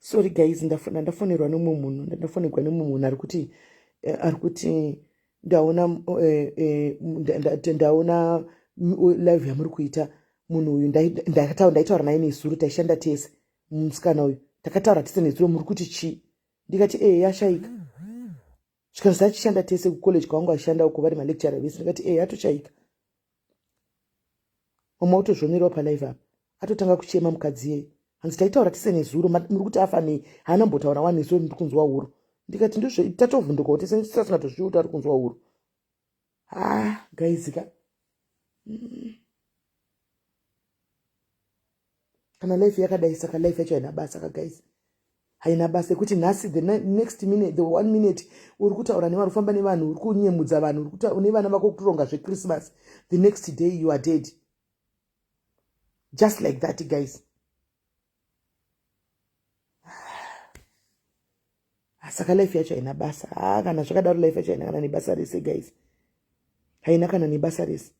sorry guys ndafona ndafonerwa nomwe munhu ndandafonerwa nomwe munhu ari kuti eh, ari kuti ndaona eh, eh, ndaona live yamuri kuita munhu uyu ndakataura ndaitaura naye nezuro taishanda tese musikana uyu takataura tese nezuro muri kuti chii ndikati ee yashaika zvikanzi tachishanda tese kucollege kwavangu vashanda uko vari malecture vese ndikati ehe atochaika mama otozvonerawo palive apa atotanga kuchema mukadzi yeye hanzi taitaura tese nezuro muri kuti afa nei haana mbotaura wani so ndiri kunzwa huro ndikati ndozve tatovhundukawo tese tisasina tozviuta ari kunzwa huro haa guys ka mm. kana life yakadai saka life yacho haina basa ka guys haina basa yekuti nhasi the next minute the one minute uri kutaura nevanhu ufamba nevanhu uri kunyemudza vanhu uri kutaura une vana vako kutoronga zvechristmas the next day you are dead just like that guys saka life yacho haina basa haa ah, kana zvakadaro life yacho haina kana nebasa rese guys haina kana nebasa rese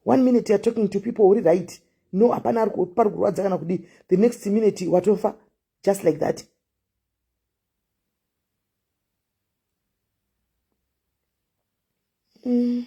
one minute youare talking to people uri right no hapana pari kurwadza kana kudii the next minute watofa just like that mm.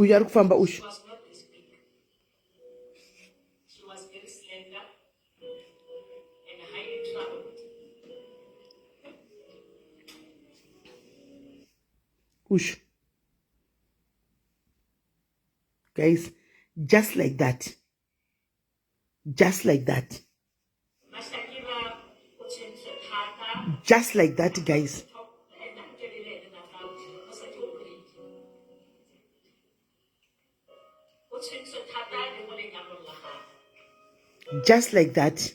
uyu ari kufamba uyu uyu guys just like that just like that just like that guys just like that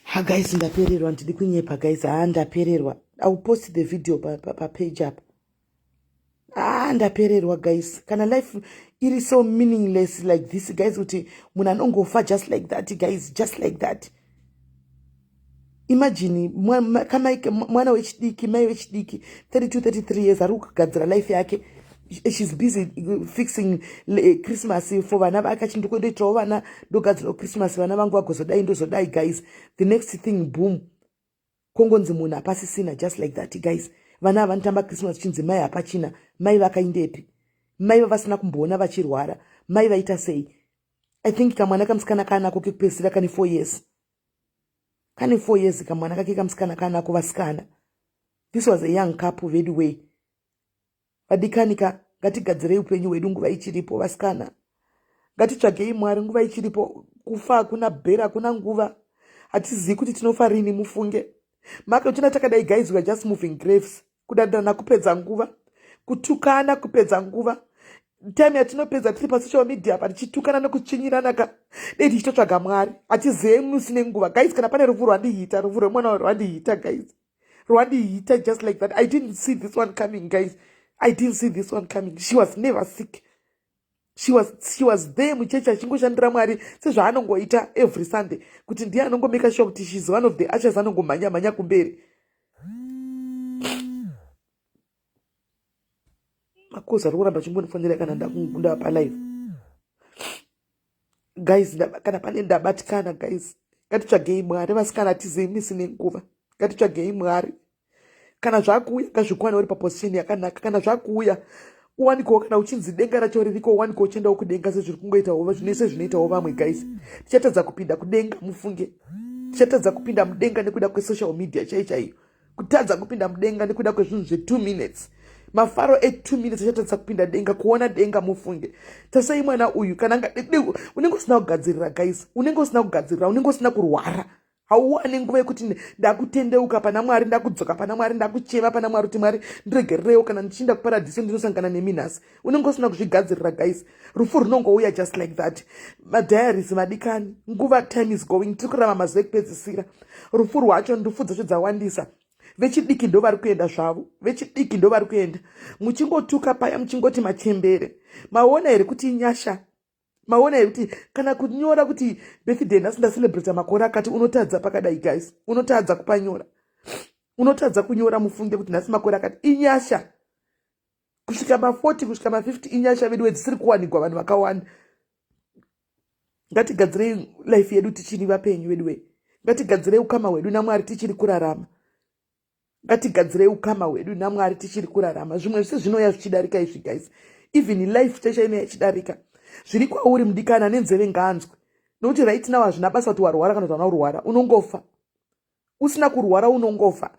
ha guys ndapererwa ndidi kunyepa guys haa ndapererwa iwill post the video papage pa, pa apa ah ndapererwa guys kana life iri so meaningless like this guys kuti munhu anongofa just like that guys just like that imagine mwana wechidiki mai wechidiki 32 33 years ari kugadzira life yake shes busy fixing eh, christmas for vana vake achii ndokuendoitirawo vana ndogadzirawo christmas vana vangu vagozodai ndozodai guys the next thing boom kongonzi munhu hapasisina just like that guys vana havanotamba christmas chinzi mai hapachina mai vakaindepi mai vavasina kumboona vachirwara mai vaita sei i think kamwana kamusikana kaanako kekupedzisira kane four years kane four years kamwana kake kamusikana kaanako vasikana this was a young couple veduway vadikani ka ngatigadzirei upenyu hwedu nguva ichiripo vasikana ngatitsvagei mwari nguva ichiripo kufa hakuna bhera hakuna nguva hatizivi kuti tinofa rini mufunge make uchina takadai guys weare just moving graves kudandirana kupedza nguva kutukana kupedza nguva time yatinopedza tiri pasocial media apa tichitukana nekutsvinyirana ka dei tichitotsvaga mwari hatizive musi nenguva guys kana pane rufu rwandihita rufu rwemwana rwandihita guys rwandiita just like that i didn't see this one coming guys i didn't see this one coming she was never sick she was, she was there muchechi achingoshandira mwari sezvaanongoita every sunday kuti ndiye anongomeka sure kuti shes one of the ashes anongomhanya mhanya kumberi makozi ari kuramba chingondifonera kana ndakundava palive guys kana pane ndabatikana guys ngatitsvagei mwari vasikana atizei misi nenguva ngatitsvagei mwari kana zvakuuya ngazvikwane uri paposition yakanaka kana zvakuuya uwanikewo kana uchinzi denga racho ririko uwanikewo uchiendawo kudenga sezviri kungoitawo zvinoise zvinoitawo vamwe guys tichatadza kupinda kudenga mufunge tichatadza kupinda mudenga nekuda kwesocial media chai chaiyo kutadza kupinda mudenga nekuda kwezvinhu zve2 minutes mafaro e2 minutes achatadza kupinda denga kuona denga mufunge tasai mwana uyu kana unenge usina kugadzirira guys unenge usina kugadzirira unenge usina kurwara hauwane nguva yekuti ndakutendeuka pana mwari ndakudzoka pana mwari ndakuchema pana mwari kuti mwari ndiregererewo kana ndichiinda kuparadhiso ndinosangana nemi nhasi unenge usina kuzvigadzirira guys rufu runongouya just like that madiaries madikani nguva time is going tiri kurama mazuva ekupedzisira rufu rwacho ndufu dzacho dzawandisa vechidiki ndo vari kuenda zvavo vechidiki ndo vari kuenda muchingotuka paya muchingoti machembere maona here kuti inyasha maona here kuti kana kunyora kuti birthday nhasi ndacelebrata makore akati unotadza pakadai guys unotadza kupanyora unotadza kunyora mufunge kuti nhasi makore akati inyasha kusvika ma40 kusvika ma50 inyasha veduwe dzisiri kuwanikwa vanhu vakawanda ngatigadzirei life yedu tichiri vapenyu veduwe ngatigadzirei ukama hwedu namwari tichiri kurarama ngatigadzirei ukama hwedu namwari tichiri kurarama zvimwe zvisi zvinoya zvichidarika izvi guys even life chesha inoya ichidarika zviri kwauri mudikana nenzeve nganzwe nokuti right now hazvina basa kuti warwara kana kuti vana urwara unongofa usina kurwara unongofa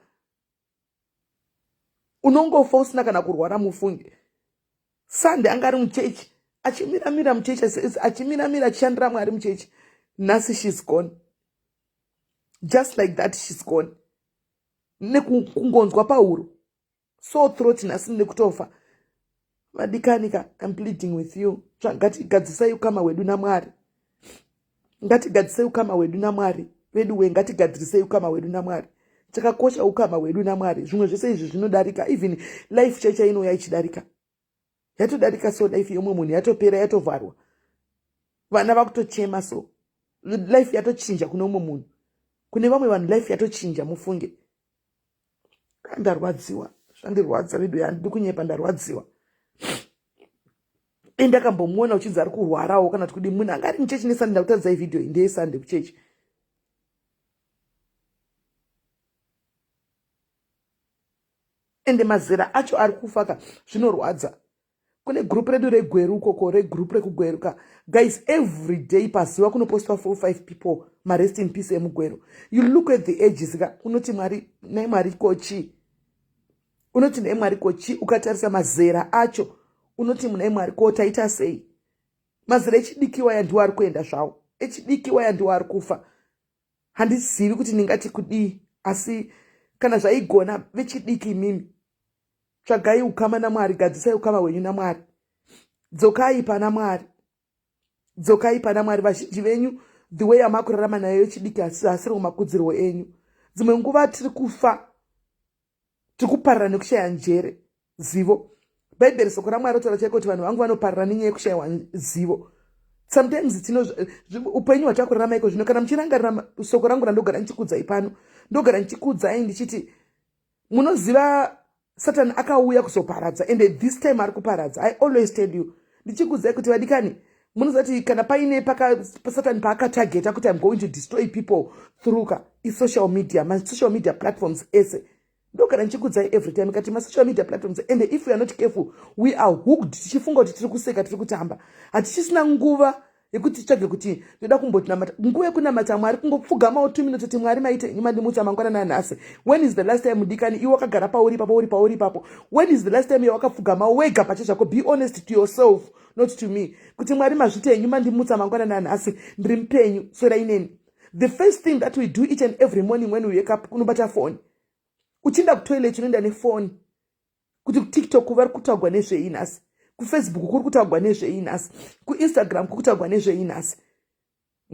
unongofa usina kana kurwara mufunge sunday anga ari muchechi achimiramira muchechi achimiramira achishandira mwari muchechi nhasi shes gone just like that shes gone nekungonzwa pahuro so throat nhasi nekutofa vadikani ka im pleading with you ngatigadzisai ukama hwedu namwari ngatigadzisei ukama hwedu namwari vedu we ngatigadzirisei ukama hwedu namwari chakakosha ukama hwedu namwari zvimwe zvese izvi zvinodarika even life chaicha inouya ichidarika yatodarika so life yomwe munhu yatopera yatovharwa vana vakutochema so life yatochinja kune umwe munhu kune vamwe vanhu life yatochinja mufunge ndarwadziwa zvandirwadza vedu handidi kunyepa ndarwadziwa e ndakambomuona uchinzi ari kurwarawo kana kuti kudi munhu anga ari muchechi nesande ndakutaridza ivhidhiyo iyi ndeyesande kuchechi ende mazera acho ari kufaka zvinorwadza kune group redu regweru ukoko regroup rekugweru ka guys every day pazuva kunopostwa four five people marest in peace emugweru you look at the ages ka unoti mwari nai mwari kochii unoti nai mwari kochii ukatarisa mazera acho unoti munai mwari ko taita sei mazera echidikiwa yandiwo ari kuenda zvawo echidikiwa yandiwo ari kufa handizivi kuti ndingati kudii asi kana zvaigona vechidiki imimi tsvagai ukama namwari gadzisai ukama hwenyu namwari dzokai pana mwari dzokai pana mwari vazhinji venyu the way yamakurarama nayo yechidiki asi asiri kumakudzirwo enyu dzimwe nguva tiri kufa tiri kuparira nekushaya njere zivo bhaibheri soko ramwari rotaura chaiko kuti vanhu vangu vanoparira nenyaya yekushayiwa zivo sometimes tino upenyu hwatakurarama iko zvino kana muchirangarira soko rangu randogara ndichikudzai pano ndogara ndichikudzai ndichiti munoziva satani akauya kuzoparadza ende this time ari kuparadza i always tell you ndichikudzai kuti vadikani munoziva kuti kana paine pasatani paakatageta kuti im going to destroy people through ka isocial media masocial media platforms ese ndo kana ndichikudzai every time kati masocial media platforms and if weare not careful we are hooked tichifunga kuti tiri kuseka tiri kutamba hatichisina nguva yekuti titsvage kuti ndoda kumbotinamata nguva yekunamata mwari kungopfugamawo two minutes kuti mwari maite nyuma ndimutsa mangwana nanhasi when is the last time mudikani iwe wakagara pauri ipapo uri pauri ipapo when is the last time yawakapfugamawo wega pache zvako be honest to yourself not to me kuti mwari mazviti enyu mandimutsa mangwanani anhasi ndiri mupenyu swera ineni the first thing that we do each and every morning when we wake up kunobata foni uchienda kutoilet unoenda nefoni kuti kutiktok vari kutaugwa nezvei nhasi kufacebook kuri kutaugwa nezvei nhasi kuinstagram kuri kutaugwa nezvei nhasi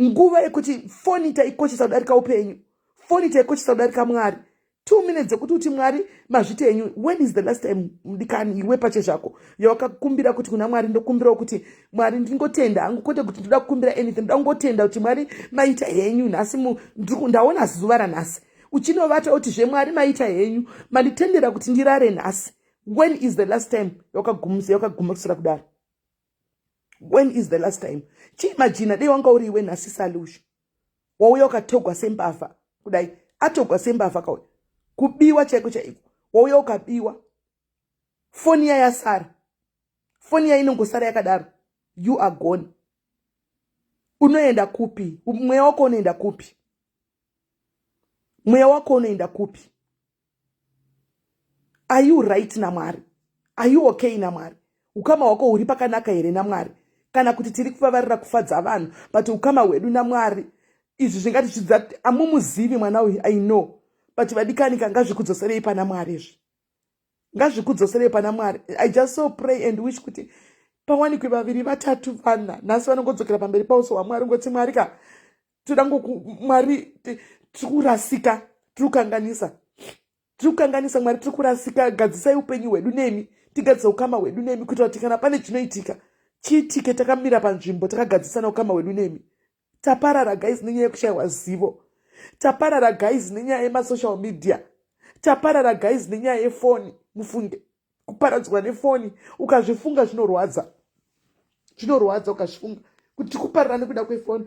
nguva yekuti foni taikoshesa kudarika upenyu foni taikoshesa kudarika mwari two minutes dzekuti uti mwari mazviti enyu when is the last time mdikani iwe pache zvako yawakakumbira kuti kuna mwari ndokumbirawo kuti mwari ndingotenda hangu kwete kuti ndoda kukumbira anything ndoda kungotenda kuti mwari maita henyu nhasi ndaona zuva ranhasi uchinovata kuti zvemwari maita henyu manditendera kuti ndirare nhasi when is the last time yawakagumisa yawakagumisira kudaro when is the last time chii majina dei wanga uri iwe nhasi sali usho wauya ukatogwa sembavha kudai atogwa sembavha kauya kubiwa chaiko chaiko wauya ukabiwa foni iya yasara foni iya inongosara yakadaro you are gone unoenda kupi mweya wako unoenda kupi mweya wako unoenda kupi are you right namwari are you okay namwari ukama hwako huri pakanaka here namwari kana kuti tiri kuvavarira kufadza vanhu but ukama hwedu namwari izvi zvingatichidza amumuzivi mwana uyu i know but vadikanika ngazvikudzoserei pana mwari izvi ngazvikudzoserei pana mwari i just so pray and wish kuti pawanikwe vaviri vatatu vana nhasi vanongodzokera pamberi pauso hwamwari ngoti mwari ka toda ngoku mwari tiri kurasika tiri kukanganisa tiri kukanganisa mwari tiri kurasika gadzisai upenyu hwedu nemi tigadzisa ukama hwedu nemi kuitira kuti kana pane chinoitika chiitike takamira panzvimbo takagadzisana ukama hwedu nemi taparara guys nenyaya yekushayiwa zivo taparara guys nenyaya yemasocial media taparara guys nenyaya yefoni mufunge kuparadzwa nefoni ukazvifunga zvinorwadza zvinorwadza ukazvifunga kuti tikuparira nekuda kwefoni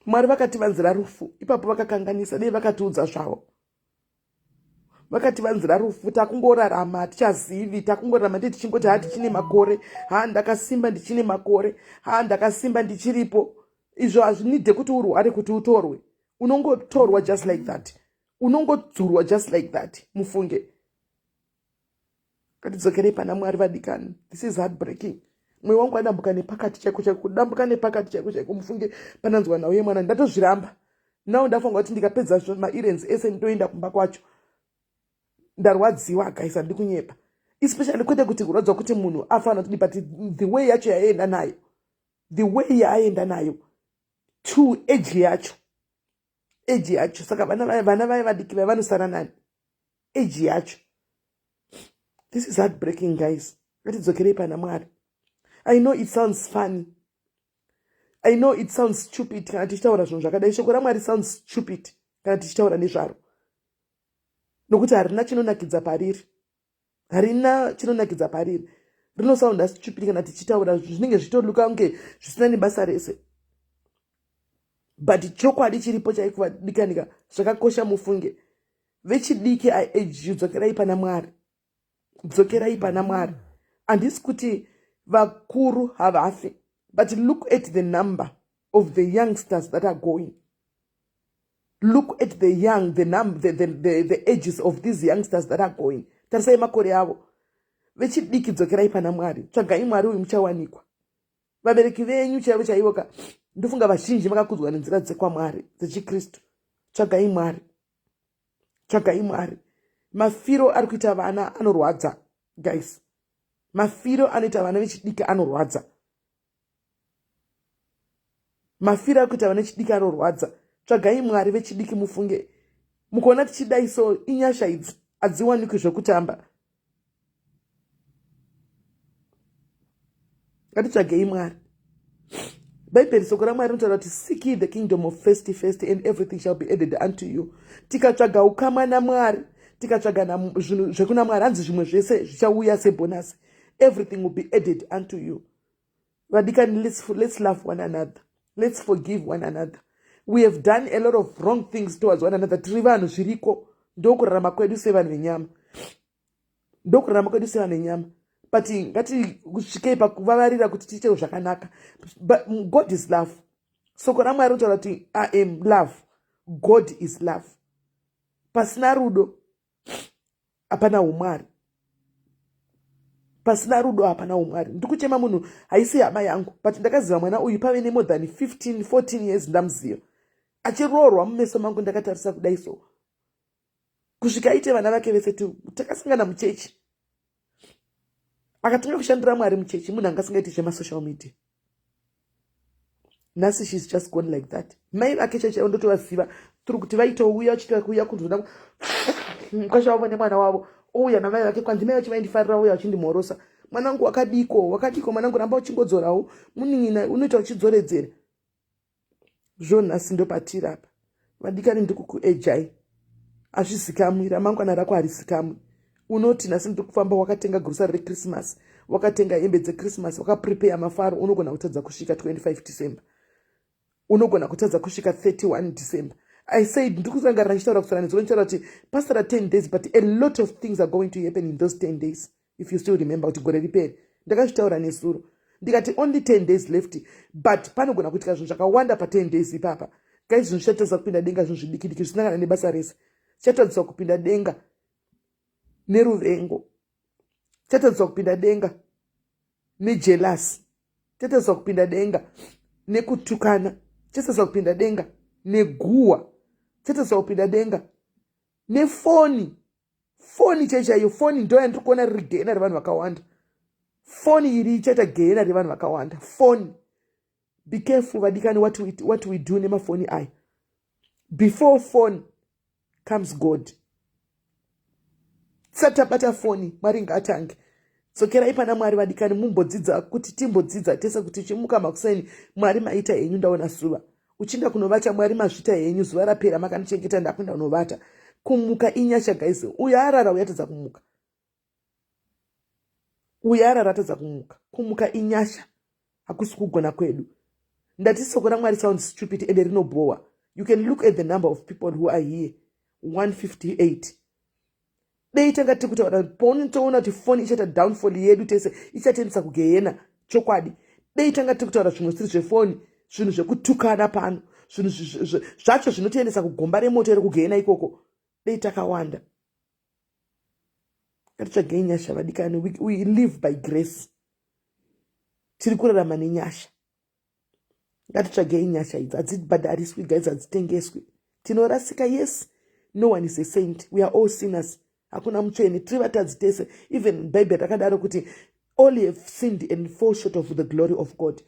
mwari vakativanzira rufu ipapo vakakanganisa dei vakatiudza zvavo vakativanzira rufu takungorarama hatichazivi takungorarama ndee tichingoti haa tichine makore haa ndakasimba ndichine makore haa ndakasimba ndichiripo izvo hazvinide kuti urware kuti utorwe unongotorwa just like that unongodzurwa just like that mufunge katidzokerei pana mwari vadikani this is heartbreaking mwoyo wangu adambuka nepakati chaiko chaiko kudambuka nepakati chaiko chaiko mufunge pananzwa nhau yemwana ndatozviramba now ndafunga kuti ndikapedza mairens ese ndoenda kumba kwacho ndarwadziwa guys handi kunyepa especially kwete kuti kurwadzwa kuti munhu afanira kudii but the way yacho yaienda nayo the way yaaenda nayo two age yacho age yacho saka vana vaye vana vaye vadiki vaye vanosara nani age yacho this is heart breaking guys ngatidzokerei pana mwari i know it sounds funny i know it sounds stupid kana tichitaura zvinhu zvakadai shoko ramwari sounds stupid kana tichitaura nezvaro nokuti harina chinonakidza pariri harina chinonakidza pariri rinosaunda stupid kana tichitaura zvinenge zvitoluka kunge zvisina nebasa rese but chokwadi chiripo chaikuvadikanika zvakakosha mufunge vechidiki i age you dzokerai pana mwari dzokerai pana mwari handisi kuti vakuru havafi but look at the number of the youngsters that are going look at the young the, num, the, the, the, the ages of these youngsters that are going tarisai makore avo vechidiki dzokerai pana mwari tsvagai mwari uyu muchawanikwa vabereki venyu chaivo chaivo ka ndofunga vazhinji vakakudzwa nenzira dzekwamwari dzechikristu tsvagai mwari tsvagai mwari mafiro ari kuita vana anorwadza guys mafiro anoita vana vechidiki anorwadza mafiro akuita vane chidiki anorwadza tsvagai mwari vechidiki mufunge mukuona tichidai so inyasha idzi hadziwanikwi zvekutamba ngatitsvagei mwari bhaibheri soko ramwari rinotaura kuti seek ye the kingdom of first first and everything shall be added unto you tikatsvaga ukamwa namwari tikatsvaga zvinhu zvekuna mwari hanzi zvimwe zvese zvichauya sebhonasi everything will be added unto you vadikani let's, let's love one another let's forgive one another we have done a lot of wrong things towards one another tiri vanhu zviriko ndokurarama kwedu sevanhu venyama ndokurarama kwedu sevanhu venyama but ngatisvikei pakuvavarira kuti tiitewo zvakanaka but god is love soko ramwari rinotaura kuti i am love god is love pasina rudo hapana umwari pasina rudo hapana umwari ndikuchema munhu haisi hama yangu but ndakaziva mwana uyu pave nemore than 15 14 years ndamuziva achiroorwa mumeso mangu ndakatarisa kudai so kusvika aite vana vake vese takasangana muchechi akatanga kushandira mwari muchechi munhu anga asingaiti zvemasocial media nhasi shes just gone like that mai vake chechi ndotovaziva tiri kuti vaitouya vachita kuuya kunzona mukasha wavo nemwana wavo ouya namai vake kwanzi mai vachi vaindifarira uya vachindimhorosa mwanangu wakadiko wakadiko mwanangu ramba uchingodzorawo munin'ina unoita uchidzoredzera zvonhasi ndopatiri apa vadikani ndikukuejai azvizikamwi ramangwana rako harizikamwi unoti nhasi ndiri kufamba wakatenga grosari rechristmas wakatenga hembe dzechristmas wakaprepeya mafaro unogona kutadza kusvika 25 december unogona kutadza kusvika 31 december i said ndiri kurangarira ndichitaura kusaranidza unotaura kuti pasara 10 days but a lot of things are going to happen in those 10 days if you still remember kuti gore riperi ndakazvitaura nesuro ndikati only 10 days left but panogona kuitika zvinhu zvakawanda pa 10 days ipapa kai zvinhu zvichatadzisa kupinda denga zvinhu zvidikidiki zvisina kana nebasa rese chitadzisa kupinda denga neruvengo chitadzisa kupinda denga nejelasi chitadzisa kupinda denga nekutukana chitadzisa kupinda denga neguwa chitadzisa kupinda denga nefoni foni chai chaiyo foni ndo yandiri kuona riri gehena revanhu vakawanda foni iri ichaita gehena revanhu vakawanda foni be careful vadikani what we, what we do nemafoni aya before foni comes god satabata foni mwari ngaatange dzokerai pana mwari vadikani mumbodzidza kuti timbodzidza tese kuti chimuka makuseni mwari maita henyu ndaona suva uchinda kunovata mwari mazvita henyu zuva rapera makandichengeta ndakuenda kunovata kumuka inyasha guys uyo arara uyatadza kumuka uyo arara atadza kumuka kumuka inyasha hakusi kugona kwedu ndati soko ramwari sound stupid ende rinobhowa you can look at the number of people who are here 158 dei tanga tiri kutaura kuti paunenge toona kuti foni ichaita downfall yedu tese ichatiendesa kugehena chokwadi dei tanga tiri kutaura zvimwe zvisiri zvefoni zvinhu zvekutukana pano zvinhu zvacho zvinotiendesa kugomba remoto iri kugehena ikoko dei takawanda ngatitsvagei nyasha vadikani we live by grace tiri kurarama nenyasha ngatitsvagei nyasha idzi hadzibhadhariswi guys hadzitengeswi tinorasika yes no one is a saint we are all sinners hakuna mutsvene tiri vatadzi tese even bible rakadaro kuti all have sinned and fall short of the glory of god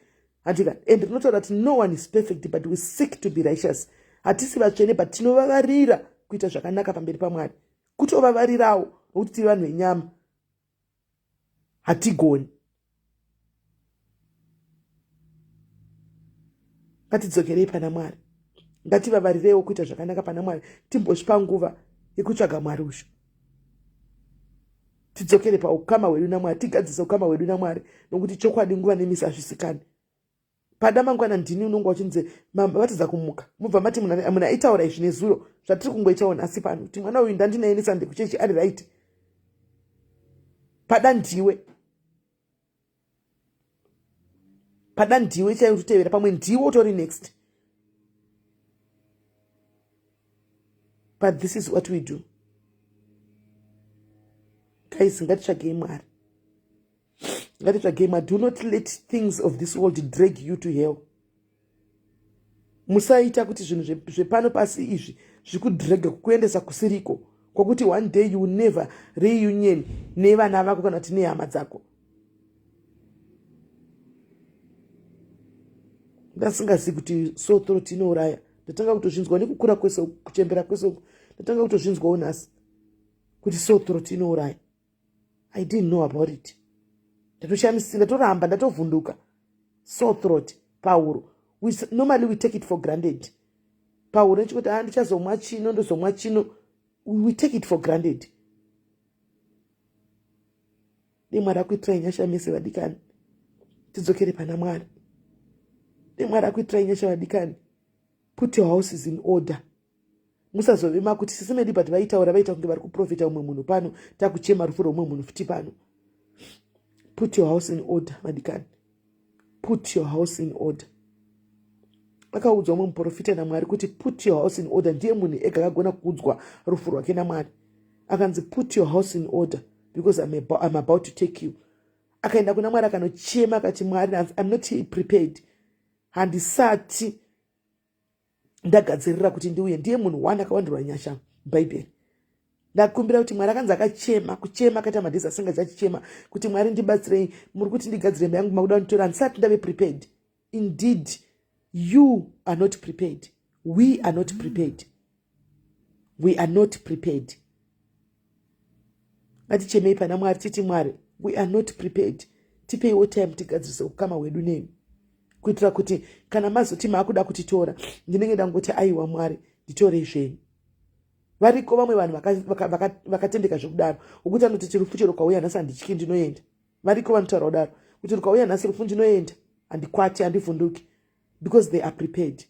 handika and rinotaura kuti no one is perfect but we seek to be righteous hatisi vatsvene but tinovavarira kuita zvakanaka pamberi pamwari kutovavarirawo nokuti tiri vanhu venyama hatigoni ngatidzokerei pana mwari ngativavarireiwo kuita zvakanaka pana mwari timbozvipa nguva yekutsvaga mwari uzvo tidzokere paukama hwedu namwari tigadzise ukama hwedu namwari nokuti chokwadi nguva nemisi hazvisikani pada mangwana ndini unonge wachinzi matadza kumuka mubva mati munhu aitaura izvi nezuro zvatiri kungoita wona asi pano kuti mwana uyu ndandinaye nesande kuchechi ari right pada ndiwe pada ndiwe chaiyo utotevera pamwe ndiwe utori next but this is what we do guys ngatitsvagei mwari ngatitsvagei ma do not let things of this world drag you to hell musaita kuti zvinhu zvepano pasi izvi zvikudrega kukuendesa kusiriko kwokuti one day you never reunion nevana vako kana kuti nehama dzako ndasingazivi kuti so throat inouraya ndatanga kutozvinzwa nekukura kwese kuchembera kwese uku ndatanga kutozvinzwawo nhasi kuti so throat inouraya i didn't know about it ndatoshamisika ndatoramba ndatovhunduka so throat pahuro we, normally we take it for granted pahuro nechikuti a ah, ndichazomwa chino ndozomwa chino we take it for granted dei mwari akuitirai nyasha mese vadikani tidzokere pana mwari dei mwari akuitirai nyasha vadikani put your houses in order musazove makuti sisi medi but vaitaura vaita kunge vari kuprofita umwe munhu pano takuchema rufu roumwe munhu futi pano put your house in order madikani put your house in order akaudzwa umwe muprofita namwari kuti put your house in order ndiye munhu ega akagona kuudzwa rufu rwake namwari akanzi put your house in order because I'm, about, I'm about to take you akaenda kuna mwari akanochema akati mwari hanzi i'm not prepared handisati ndagadzirira kuti ndiuye ndiye munhu one akawandirwa nyasha bhaibheri ndakumbira kuti mwari akanzi akachema kuchema akaita madhezi asanga chachichema kuti mwari ndibatsirei muri kuti ndigadzire mba yangu makuda kunditora handisati ndave prepared indeed you are not prepared we are not prepared we are not prepared ngatichemei pana mwari titi mwari we are not prepared tipeiwo time tigadzirise ukama hwedu nemi kuitira kuti kana mazoti maakuda kutitora ndinenge ndangoti aiwa mwari nditorei zvenyu variko vamwe vanhu vakatendeka zvekudaro ukuti anoti tirufucho rukauya nhasi handityi ndinoenda variko vanotaura kudaro kuti rukauya nhasi rufu ndinoenda handikwati handivhunduki because they are prepared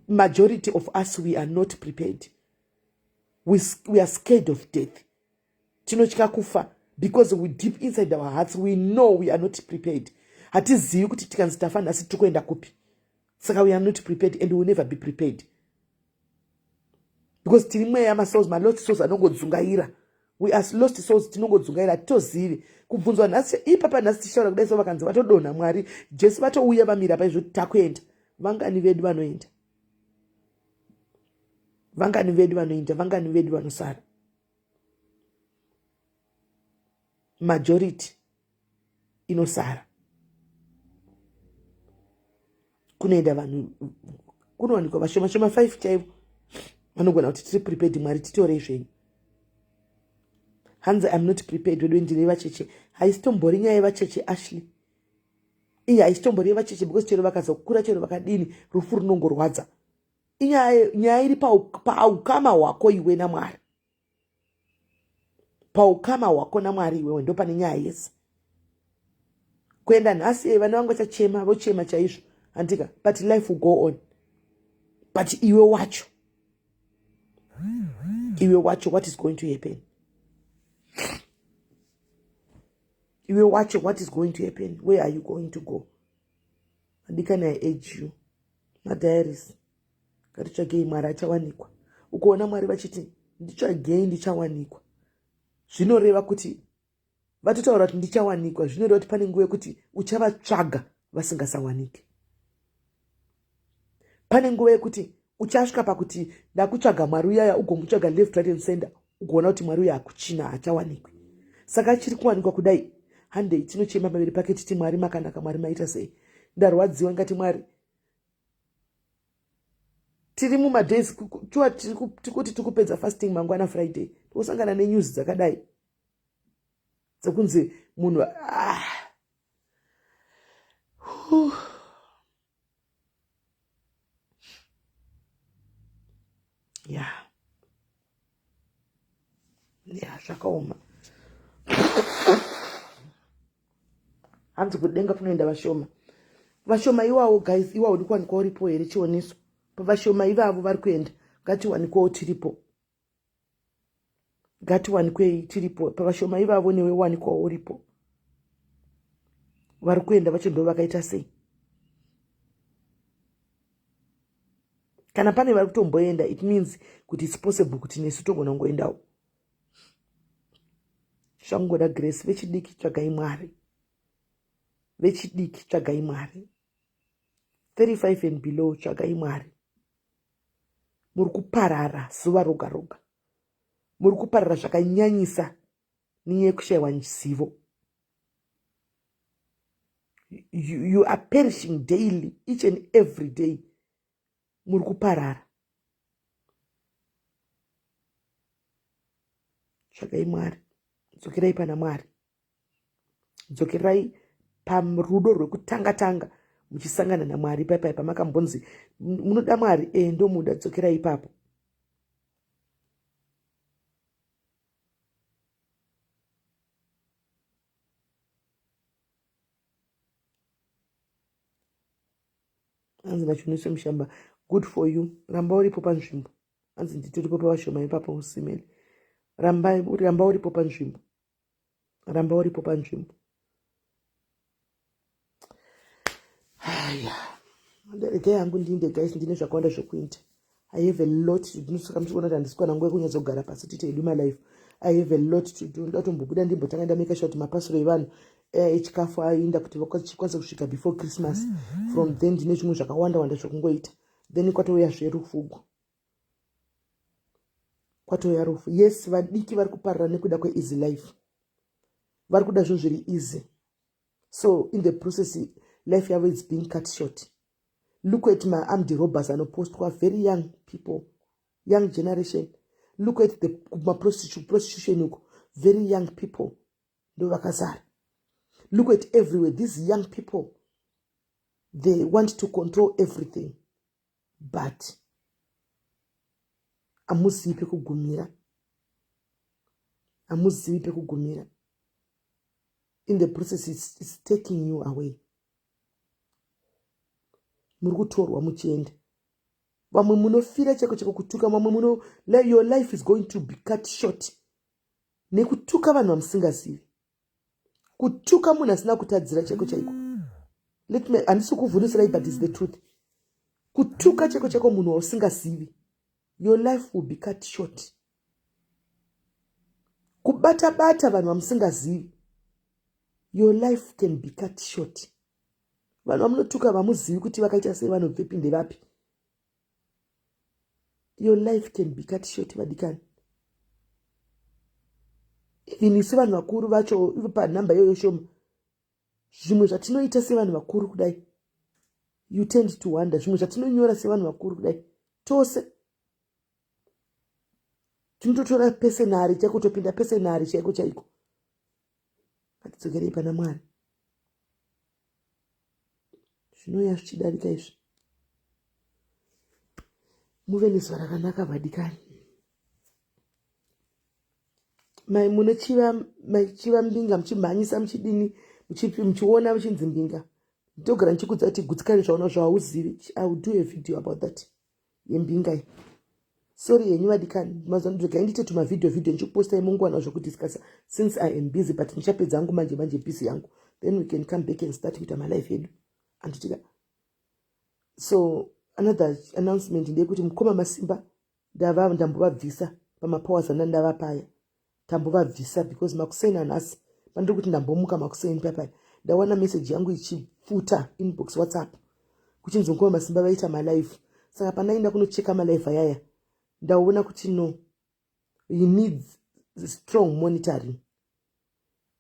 majority of us we are not prepared we, we are scared of death tinotya kufa because we deep inside our hearts we know we are not prepared hatizivi kuti tikanzi tafa nhasi tiri kuenda kupi saka we are not prepared and will never be prepared because tiri mweya masols malot sols anongodzungaira we are lost souls tinongodzungaira hatitozivi kubvunzwa nhasi ipapa nhasi tichitaura kudai so vakanzi vatodonha mwari jesu vatouya vamira paizvo kuti takuenda vangani vedu vanoenda vangani vedu vanoenda vangani vedu vanosara majority inosara kunoenda vanhu kunowanikwa vashoma shoma five chaivo vanogona kuti tiri prepared mwari titorei zvenyu hanzi im not prepared wedu ndine yevacheche haisitombori nyaya yevacheche ashley iyi haisitombori yevacheche because chero vakazokura chero vakadini rufu runongorwadza inyaya iri paukama hwako iwe namwari paukama hwako namwari iwewe ndopane nyaya yese kuenda nhasi e vana vangu vachachema vochema chaizvo handika but life will go on but iwe wacho iwe wacho what is going to happen iwe wacho what is going to happen where are you going to go andikani i age you madiaries Ngatitsvagei Mwari achawanikwa. Ukoona Mwari vachiti nditsvagei ndichawanikwa. Zvinoreva kuti vatotaura kuti ndichawanikwa zvinoreva kuti pane nguva yekuti uchavatsvaga vasingasawanike. Pane nguva yekuti uchasvika pakuti ndakutsvaga Mwari uyaya ugomutsvaga left right and center ugoona kuti Mwari uya akuchina hachawanikwi. Saka chiri kuwanikwa kudai handei tinochema pamberi pake titi Mwari makanaka Mwari maita sei. Ndarwadziwa ngati Mwari tiri mumadays shuwa tikuti tikupedza fasting mangwana friday tikusangana nenews dzakadai dzekunzi munhu ah. ya ya zvakaoma hanzi kudenga kunoenda vashoma vashoma iwawo guys iwawo uri kuwanikwa uripo here chioniso pavashoma ivavo vari kuenda ngatiwanikwawo tiripo ngatiwanikwei tiripo pavashoma ivavo newe wanikwawo uripo vari kuenda vacho ndo vakaita sei kana pane vari kutomboenda it means kuti its possible kuti nesu togona kungoendawo zvakungoda grace vechidiki tsvagai mwari vechidiki tsvagai mwari 35 and below tsvagai mwari muri kuparara zuva roga roga muri kuparara zvakanyanyisa nenyaya yekushayiwa zivo you, you are perishing daily each and every day muri kuparara tsvakai mwari dzokerai pana mwari dzokerai parudo rwekutanga tanga muchisangana namwari paipai pamakambonzi munoda mwari e ndomuda dzokerai ipapo hanzi nachunise mushamba good for you ramba uripo panzvimbo hanzi nditoripo pavashoma ipapo usimene ramba uripo panzvimbo ramba uripo panzvimbo haya ndege yangu ndinde guys ndine zvakawanda zvekuita i have a lot to do saka muchiona kuti handisikwana nguva yekunyadzogara pasi tite hedu my life i have a lot to do ndoda kutombobuda ndimbotanga ndameka sure kuti mapasiro evanhu eh, echikafu aenda kuti vakwanise kusvika before christmas mm -hmm. from then ndine zvimwe zvakawanda wanda zvekungoita then kwatouya zverufugu kwatouya rufu yes vadiki vari kuparira nekuda kweeasy life vari kuda zvinhu zviri easy so in the process life yavo is being cut short look at maarmed robbers anopostwa very young people young generation look at the maprostitution uko very young people ndo vakazara look at everywhere these young people they want to control everything but amuzivi pekugumira amuzivi pekugumira in the process it's, it's taking you away muri kutorwa muchienda vamwe munofira chako chako kutuka vamwe muno your life is going to be cut short nekutuka vanhu vamusingazivi kutuka munhu asina kutadzira chaiko chaiko let me handisi kuvhunisirai but is the truth kutuka chaiko chaiko munhu wausingazivi your life will be cut short kubata bata vanhu vamusingazivi your life can be cut short vanhu vamunotuka vamuzivi kuti vakaita sei vanobvepi ndevapi your life can be cut short vadikani even isu vanhu vakuru vacho ivo panhamba iyoyo shoma zvimwe zvatinoita sevanhu vakuru kudai you tend to wonder zvimwe zvatinonyora sevanhu vakuru kudai tose tinototora pesenari chaiko topinda pesenari chaiko chaiko Ngatidzokerei pana Mwari. Zvinouya zvichidarika izvi. Muve nezuva rakanaka vadikani. Mai mune chiva mai chiva mbinga muchimhanyisa muchidini muchipi muchiona muchinzi mbinga. Ndogara ndichikudza kuti gutsikane zvaona zvauzivi. I will do a video about that. yembinga iyi sorry henyu vadikani mazuva ndidzogai ndiite tumavhidhiyo vhidhiyo ndichikupostai munguwana zvekudiscasa since i am busy but ndichapedza angu manje manje busy yangu then we can come back and start kuita malife edu anditika so another announcement ndeyekuti mukoma masimba ndava ndambovabvisa pamapowers andandava paya tambovabvisa because makuseni anhasi pandiri kuti ndambomuka makuseni papai ndawana meseji yangu ichifuta inbox whatsapp kuchinzi nguva masimba vaita malife saka pandaenda kunocheka malife ayaya ndaona kuti no he needs strong monitoring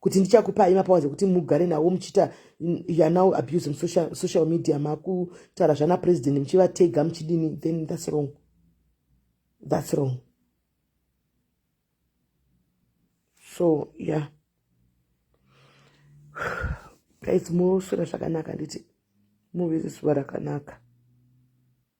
kuti ndichakupai mapower ekuti mugare nawo muchiita youare now abusing social, social media makutaura zvana president muchivatega muchidini then thats wrong thats wrong so yeah guys moswera zvakanaka nditi muve zuva rakanaka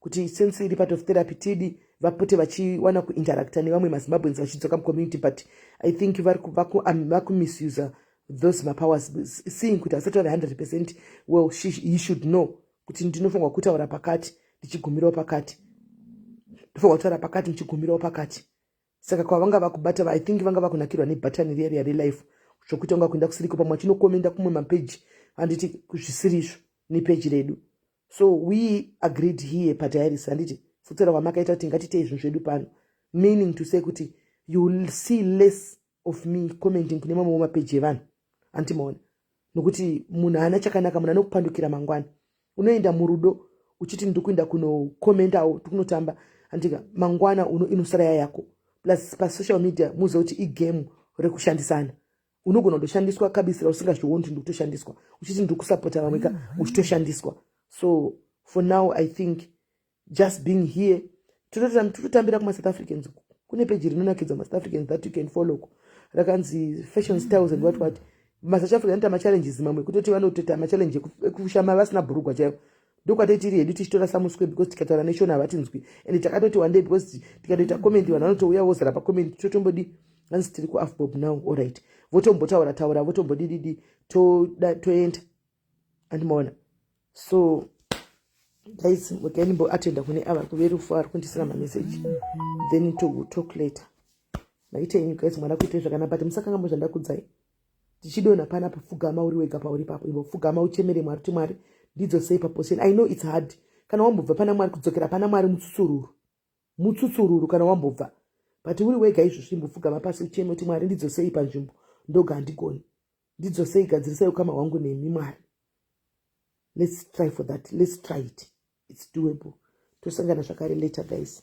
kuti since iri part of therapy tidi vapote vachiwana kuinteracta nevamwe mazimbabweans vachidzoka mucommunity but i think vakumisuse those mapowers seeing kuti asati vave 100 percent well she, he should know kuti ndinofanirwa kutaura pakati ndichigumirawo pakati ndofanirwa kutaura pakati ndichigumirawo pakati saka kwavanga vakubata i think vanga vakunakirwa nebhatani riya riya relife zvokuita unga kuenda kusiriko pamwe achinokomenda kumwe mapeji handiti zvisiri izvo nepeji redu so we agreed here padiaris handiti futsira wamakaita kuti ngatite izvinhu zvedu pano meaning to say kuti you will see less of me commenting kune mamwe wemapeji evanhu hanti maona nokuti munhu haana chakanaka munhu anokupandukira mangwana unoenda murudo uchiti ndiri kuenda kunokomentawo tikunotamba handika mangwana uno inosara yayako plus pasocial media muziva kuti igame rekushandisana unogona kutoshandiswa kabisira usingazvioni kuti ndikutoshandiswa uchiti ndiri kusapota vamwe ka mm-hmm. uchitoshandiswa so for now i think just being here tototambira kumasouth africans kune peji rinonakidza masouth africans that you can follow ko rakanzi fashion styles and what what masouth african anoita machallenges mamwe kutoti vanotota machallenje ekushama vasina bhurugwa chaivo ndokwatei tiri hedu tichitora samuswe because tikataura neshona havatinzwi and takatoti wandei because tikatoita comment vanhu vanotouya vozara pacomment totombodi hanzi tiri kuafbob now allright votombotaura taura votombodididi toenda andimaona so guys mukaimboo atenda kune ava kuve rufu ari kundisira mameseji then to talk later maita inyu guys mwana kuitei zvakanaka but musakangambo zvandakudzai tichidonha panapa pfugama uri wega pauri papo ivo pfugama uchemere mwari kuti mwari ndidzo sei paposition i know its hard kana wambobva pana mwari kudzokera pana mwari mutsusururu mutsusururu kana wambobva but uri wega izvozvo imbopfugama pasi ucheme kuti mwari ndidzo sei panzvimbo ndoga handigoni ndidzo sei gadzirisai ukama hwangu nemi mwari let's try for that let's try it its doable tosangana zvakare later guys